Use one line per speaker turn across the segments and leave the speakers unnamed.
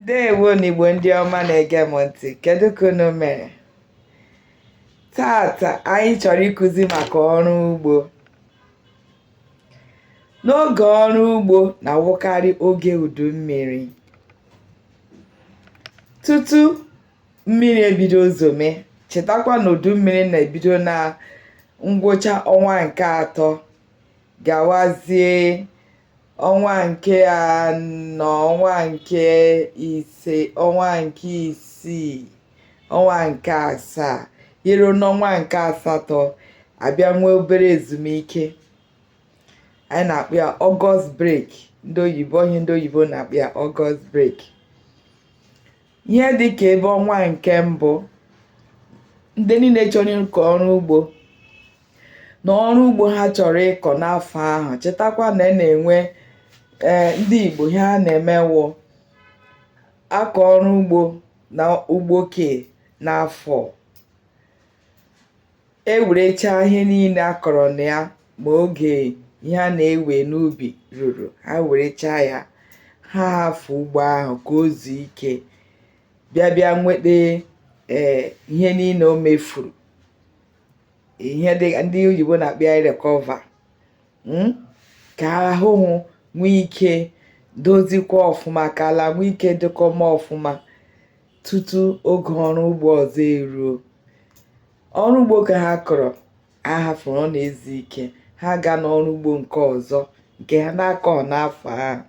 ndewo n'igbo ndị ọma na-ege m ntị kedu ka unu mere taata anyị chọrọ ịkụzi maka ọrụ ugbo n'oge ọrụ ugbo na-awụkarị oge udu mmiri tutu mmiri ebido zome chetakwa na udu mmiri na-ebido na ngwụcha ọnwa nke atọ gawazie ọnwa nke anọ ọnwa nke ise ọnwa nke isii ọnwa nke asaa e ruo n'ọnwa nke asatọ a bịa nwee obere ezumike anyị na-akpọ ya august break ndị oyibo onye ndị oyibo na-akpọ ya august break ihe dị ka ebe ọnwa nke mbụ ndị niile chọrọ ịkọ ọrụ ugbo na ọrụ ugbo ha chọrọ ịkọ n'afọ ahụ chetakwa na e na-enwe ee ndị Igbo ihe ha na-eme wụ a kọọ ọrụ ugbo na ugbo ke n'afọ e werechaa ihe niile a kọrọ na ya ma oge ihe a na-ewe n'ubi ruru ha werechaa ya ha hafụ ugbo ahụ ka o zuo ike bịa bịa nweta ee ihe niile o mefuru ihe dị ndị oyibo na-akpọ ya recover mm, ka ahụhụ nwee ike dozikwa ọfụma ka ala nwee ike dịkwa mma ọfụma tutu oge ọrụ ugbo ọzọ eruo ọrụ ugbo ke ha kọrọ a hafụrụ ọ na-ezu ike ha gaa n'ọrụ ugbo nke ọzọ nke ha na-akọ n'afọ ahụ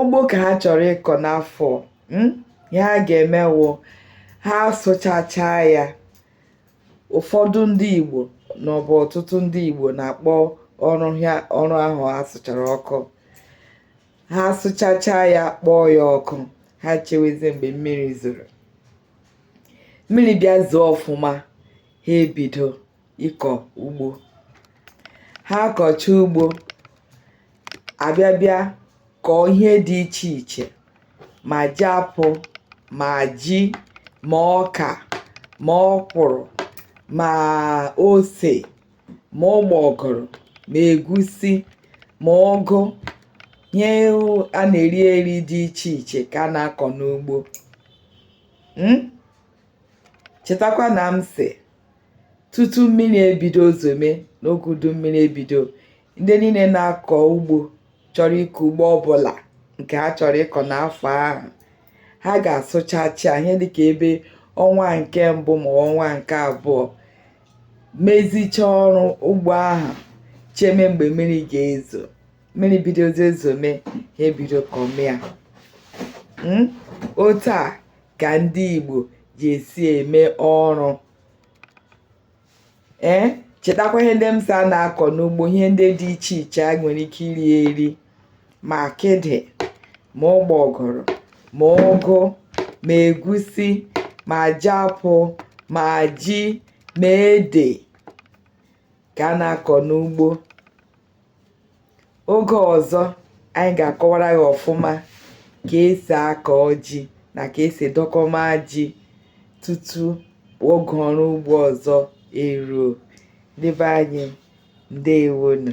ugbo ka ha chọrọ ịkọ n'afọ hmm, ihe ha ga-eme wụ ha sụchacha ya ụfọdụ ndị Igbo ma ọ bụ ọtụtụ ndị Igbo na-akpọ ọrụ ahụ a sụchara ọkụ ha sụchacha ya kpọọ ya ọkụ ha chewezie mgbe mmiri zoro mmiri bịa zoo ọfụma ha ebido ịkọ ugbo ha kọchaa ugbo a bịa bịa kọọ ihe dị iche iche ma jiapụ ma ji ma ọka ma ọkwụrụ ma ose ma ụgbọgụrụ ma egusi ma ụgụ ihe a na-eri eri dị iche iche ka a na-akọ n'ugbo hmm? chetakwa na m sị tutu mmiri ebido zome n'oge udu mmiri ebido ndị niile na-akọ ugbo chọrọ ịkọ ugbo ọbụla nke ha chọrọ ịkọ n'afọ ahụ ha ga-asụchacha ihe dịka ebe ọnwa nke mbụ ma ọnwa nke abụọ mezichaa ọrụ ugbo ahụ cheme mgbe mmiri ga-ezo mmiri bidozie zome ha ebido kọmịa hmm? otu a ka ndị Igbo ji esi eme ọrụ ee eh? chetakwa ihe ndị m sị a na-akọ n'ugbo ihe ndị dị iche iche a nwere ike iri eri ma akịdị ma ụgbọgụrụ ma ụgụ ma egusi ma jiapụ ma ji ma ede ka a na-akọ n'ugbo oge ọzọ anyị ga-akọwara ya ọfụma ka esi akọ ji na ka esi edokọma ji tutu oge ọrụ ugbo ọzọ eruo ndị be anyị ndewonu